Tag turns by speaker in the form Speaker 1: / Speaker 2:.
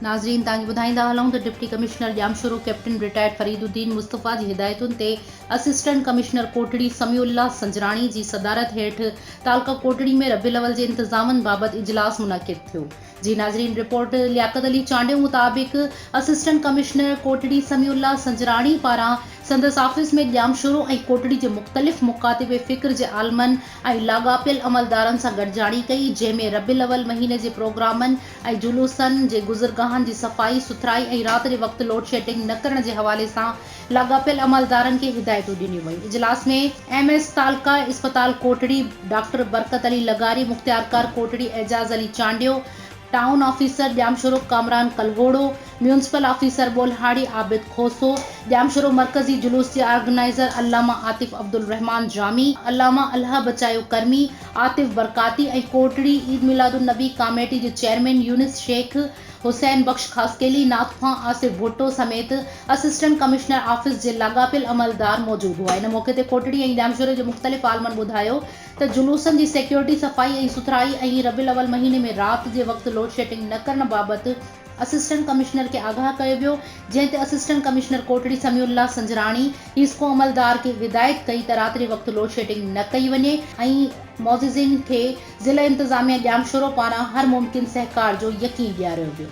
Speaker 1: ناظرين توهان کي ٻڌائيندا هلون ته deputy commissioner Jamshoro captain retired Fariduddin Mustafa جي هدايتن تي assistant commissioner Kotri Samiullah Sanjrani جي صدارت هيٺ تعلقه ڪوٽڙي ۾ ربيع الاول جي انتظامن بابت اجلاس منعقد ٿيو جي ناظرين رپورٽ لياقت علي چانڊيو مطابق assistant commissioner Kotri Samiullah Sanjrani پاران سندس آفيس ۾ ڄامشورو ۽ ڪوٽڙي جي مختلف مڪاتب فڪر جي عالمن ۽ لاڳاپيل عملدارن سان گڏجاڻي ڪئي جنهن ۾ ربيع الاول مهيني جي پروگرامن ۽ جلوسن جي گذرگاهن جي صفائي سٿرائي ۽ رات جي وقت لوڊشيڊنگ نه ڪرڻ جي حوالي سان لاڳاپيل عملدارن کي هدايتون ڏنيون ويون. اجلاس ۾ ايم ايس تعلقه اسپتال ڪوٽڙي، ڊاڪٽر برڪت علي لغاري، مختيارڪار Kotri Ejaz Ali Chandio, town officer Jamshoro Kamran Kalhoro, municipal officer Bolhari Abid Khoso, Jamshoro مرڪزي جلوس جي آرگنائيزر علامه عاطف عبدالرحمان جامي، علامه الهه بچايو ڪرمي، عاطف برڪاتي ۽ ڪوٽڙي عيد ميلاد النبي ڪاميٽي جي چيئرمين يونس شيخ، حسين بخش خاصخيلي، ناٿ خان، آصف ڀٽو سميت اسسٽنٽ ڪمشنر آفيس جي لاڳاپيل عملدار موجود هئا. ان موقعي تي ڪوٽڙي ۽ ڄامشوري جي مختلف عالمن ٻڌايو ته جلوسن جي سيڪيورٽي، صفائي ۽ سٿرائي ۽ ربيع الاول مهيني ۾ رات جي وقت لوڊشيٽنگ نه ڪرڻ بابت اسسٽنٽ ڪمشنر کي آگاهه ڪيو ويو جنهن تي assistant commissioner Kotri Samiullah Sanjrani HESCO عملدار کي هدايت ڪئي ته رات جي وقت لوڊشيٽنگ نه ڪئي وڃي ۽ معززين کي ضلعي انتظاميه ڄامشورو پاران هر ممڪن سهڪار جو يقين ڏياريو ويو.